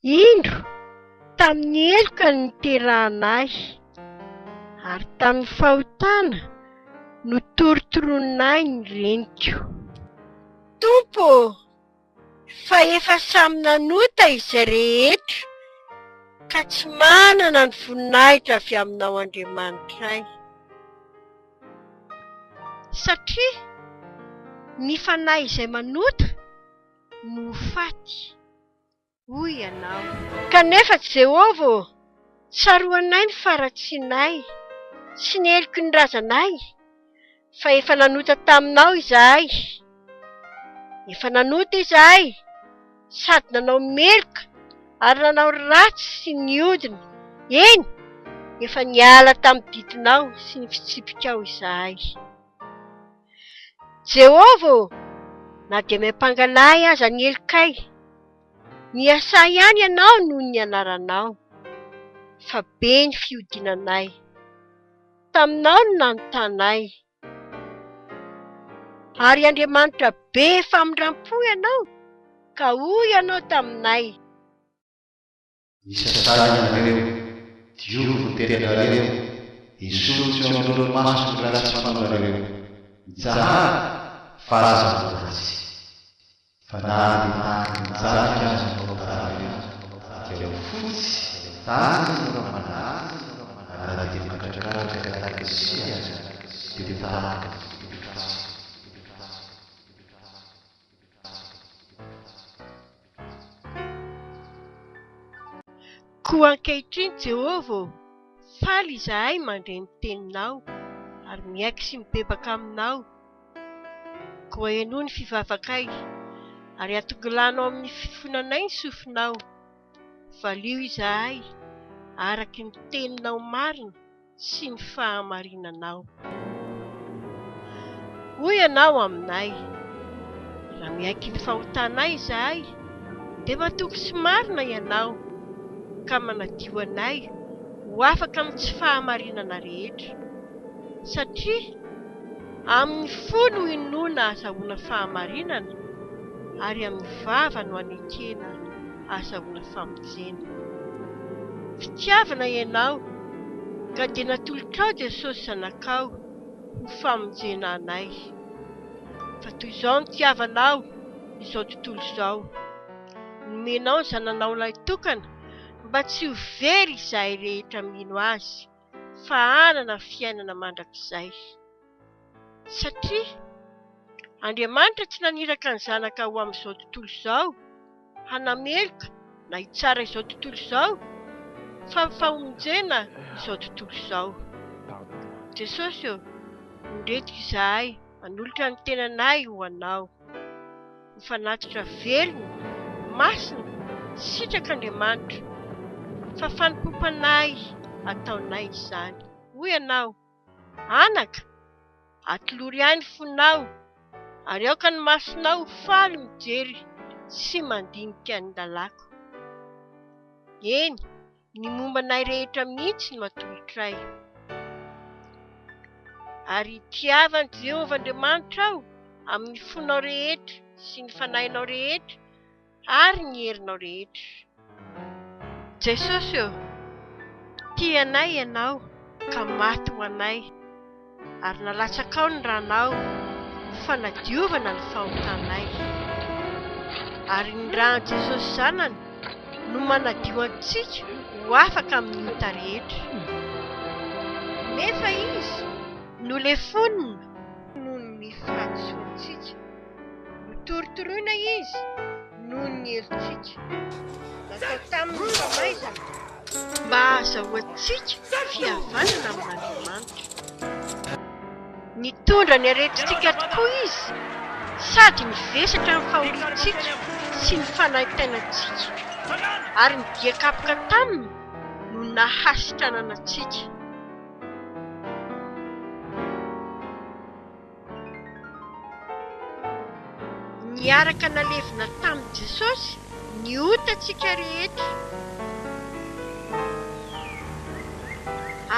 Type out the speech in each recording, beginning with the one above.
Indro tamin'ny heloka no niterahana ahy, ary tamin'ny fahotana no torotoronin'ahy ny reniko. Tompo ô, fa efa samy nanota izay rehetra, ka tsy manana ny voninahitra avy aminao Andriamanitray. Satria ny fanahy izay manota. no ho faty, hoy ianao. Kanefa, Jehovah ô, tsaroanay ny faharatsianay sy ny heloky ny razanay, fa efa nanota taminao izahay. Efa nanota izahay, sady nanao meloka ary nanao ratsy sy nihodina, eny, efa niala tamin'ny didinao sy ny fitsipikao izahay. Jehovah ô, na dia miampangalahy aza ny helokay, miasà ihany ianao noho ny anaranao, fa be ny fihodinanay. Taminao no nanontànay, ary Andriamanitra be famindram-po ianao, ka hoy ianao taminay, Isa sahy ianareo, diovy ny teninareo, esory tsy eo anoloan'ny masony ny ratsy fanaonareo. Mitsahara, fa aza ho ratsy. Fa na dia tahaka ny jadika aza ny fahotànareo, dia ho fotsy tany ny ramanavy, ary na dia mandradradraka tahaka ny siny aza, dia ho tahaka ny fototra fotsiny. Koa ankehitriny, Jehovah ô, faly izahay mandre ny teninao, ary miaiky sy mibebaka aminao. Koa henoy ny fivavakay, ary atongilano amin'ny fifonanay ny sofinao. Valio izahay araka ny teninao marina. sy ny fahamarinanao. Hoy ianao aminay, Raha miaiky ny fahotanay izahay, dia matoky sy marina ianao, ka manadio anay ho afaka amin'ny tsy fahamarinana rehetra. Satria amin'ny fo no inoana ahazahoana fahamarinana, ary amin'ny vava no anekena ahazahoana famonjena. Fitiavana ianao, ka dia natolotrao Jesosy Zanakao ho famonjena anay. Fa toy izao no tiavanao izao tontolo izao, nomenao ny Zananao Lahitokana mba tsy ho very izahay rehetra mino Azy, fa hanana fiainana mandrakizay. Satria Andriamanitra tsy naniraka ny Zanaka ho amin'izao tontolo izao, hanameloka na hitsara izao tontolo izao, fa ny famonjena izao tontolo izao. Jesosy ô, ondretika izahay manolotra ny tenanay ho Anao. Ho fanatitra velona, masina, sitrak'Andriamanitra, fa fanompoam-panahy ataonay izany. Hoy Ianao. Anaka, atolory ahy ny fonao, ary aoka ny masonao ho faly mijery sy mandinika ny lalàko. Eny, ny momba anay rehetra mihitsy no atolotray. Ary tiava an'i Jehovah Andriamanitrao amin'ny fonao rehetra sy ny fanahinao rehetra, ary ny herinao rehetra. Jesosy ô, tia anay Ianao ka maty ho anay, ary nalatsakao ny Ranao ho fanadiovana ny fahotanay. Ary ny Ran'i Jesosy Zanany no manadio antsika ho afaka amin'ny ota rehetra. Nefa Izy nolefonina noho ny fahadisoantsika. Notorotoroina izy noho ny helotsika natao taminy ny famaizana mba hahazahoantsika fihavanana amin'Andriamanitra. Nitondra ny aretintsika tokoa izy sady nivesatra ny fahoriantsika sy ny fanaintainantsika, ary ny dia kapoka taminy no nahasitranana antsika. Niaraka nalevina tamin'i Jesosy ny otantsika rehetra,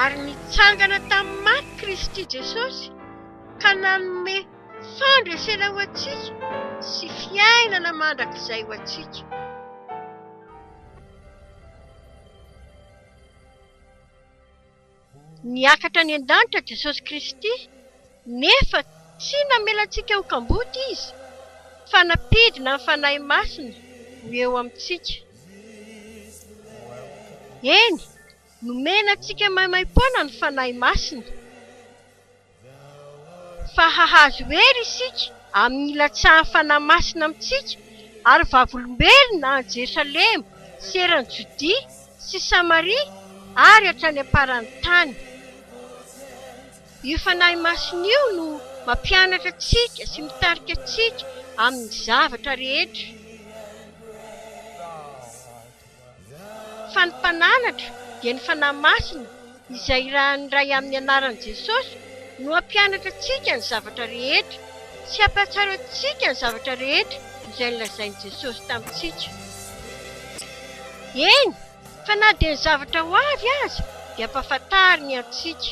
ary nitsangana tamin'ny maty Kristy Jesosy ka nanome fandresena ho antsika sy fiainana mandrakizay ho antsika. Niakatra any an-danitra Jesosy Kristy, nefa tsy namela antsika ho kamboty Izy, fa nampidina ny Fanahy Masina ho eo amintsika. Eny, nomena antsika maimaim-poana ny Fanahy Masina. fa hahazo hery isika amin'ny hilatsahan'ny Fanahy Masina amintsika, ary vavolombelona any Jerosalema sy eran'i Jodia sy Samaria ary hatrany am-paran'ny tany. Io Fanahy Masina io no mampianatra antsika sy mitarika antsika amin'ny zavatra rehetra. Fa ny mpananatra dia ny Fanahy Masina izay irahan'ny Ray amin'ny anaran'i Jesosy no hampianatra antsika ny zavatra rehetra sy hampahatsiaro antsika ny zavatra rehetra izay nolazain'i Jesosy tamintsika. Eny, fa na dia ny zavatra ho avy aza dia hampahafantariny antsika.